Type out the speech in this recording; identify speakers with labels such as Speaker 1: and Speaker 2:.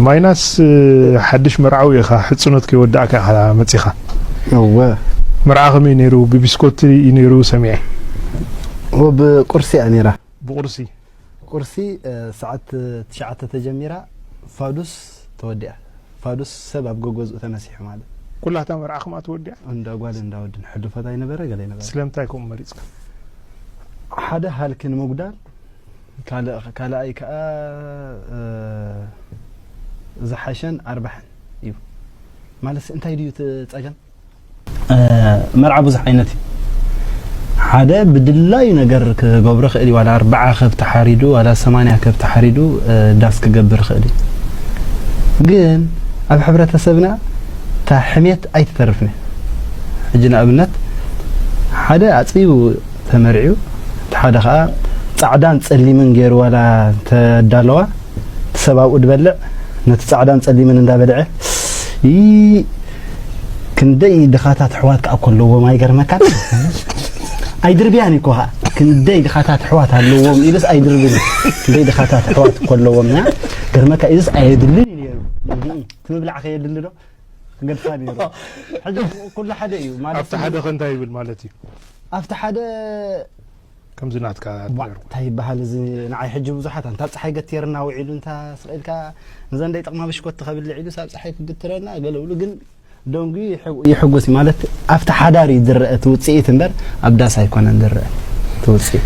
Speaker 1: ማይናስ ሓድሽ መርዓዊ ኢኻ ሕጽኖት ከይወዳእካ ኢኻ መጺኻ እወ
Speaker 2: መርዓ ከመይ
Speaker 1: ነይሩ ብቢስኮቲ እዩ ነይሩ ሰሚዐ እወ
Speaker 2: ብቁርሲ እያ ነይራ ብቁርሲ
Speaker 1: ቁርሲ
Speaker 2: ሰዓት ትሽዓተ ተጀሚራ ፋዱስ ተወዲኣ ፋዱስ ሰብ ኣብ ገገዝኡ ተመሲሑ ማለት ኩላ እታ መርዓ ከምኣ
Speaker 1: ተወዲኣ እንዳ ጓል እንዳ ወድን
Speaker 2: ሕልፈት ኣይነበረ ገለ ይነበረ ስለምንታይ ከምኡ
Speaker 1: መሪጽካ
Speaker 2: ሓደ ሃልኪ ንምጉዳል ካልኣይ ከኣ ዝሓሸን ኣርባሕን እዩ ማለት እንታይ ድዩ እቲ ጸገም? መርዓ ብዙሕ ዓይነት እዩ ሓደ ብድላዩ ነገር ክገብሮ ክእል እዩ ዋላ ኣርባዓ ከብቲ ሓሪዱ ዋላ ሰማንያ ከብቲ ሓሪዱ ዳስ ክገብር ክእል እዩ ግን ኣብ ሕብረተሰብና እታ ሕሜት ኣይትተርፍን ሕጂ ንኣብነት ሓደ ኣፅቢቡ ተመርዕዩ እቲ ሓደ ከኣ ጻዕዳን ጸሊምን ጌሩ ዋላ እንተ ኣዳለዋ እቲ ሰብ ኣብኡ ድበልዕ ነቲ ጻዕዳን ጸሊምን እንዳ በልዐ ይይ ክንደይ ድኻታት ኣሕዋት ከኣ እኮ ኣለዎም ኣይገርመካን ኣይድርብያን እኮ ኸዓ ክንደይ ድኻታት ኣሕዋት ኣለዎም ኢሉስ ኣይድርብን ክንደይ ድኻታት ኣሕዋት እኮ ኣለዎም ገርመካ ኢሉስ ኣየድልን እዩ ነይሩ እቲ ምብላዕ ከየድሊ ዶ ክገድፋ ነይሩ ሕጂ ኩሉ ሓደ እዩ ማለት ኣብቲ ሓደ ከ እንታይ ይብል
Speaker 1: ማለት እዩ ኣብቲ ሓደ ከምዚ ናትካ እንታይ ይበሃል እዚ
Speaker 2: ንዓይ ሕጂ ብዙሓት ኣንታ ኣብ ፀሓይ ገትርና ውዒሉ እንታ ስቕ ኢልካ ንዘን ደይጠቕማ ብሽኮቲ ከብልዕ ኢሉ ሳብ ፀሓይ ክግትረና ገለ ብሉ ግን ደንጉ ይሕጉስ ማለት ኣብቲ ሓዳር እዩ ዝረአ እቲ ውፅኢት እምበር ኣብ ዳስ ኣይኮነን ዝረአ እቲ ውፅኢት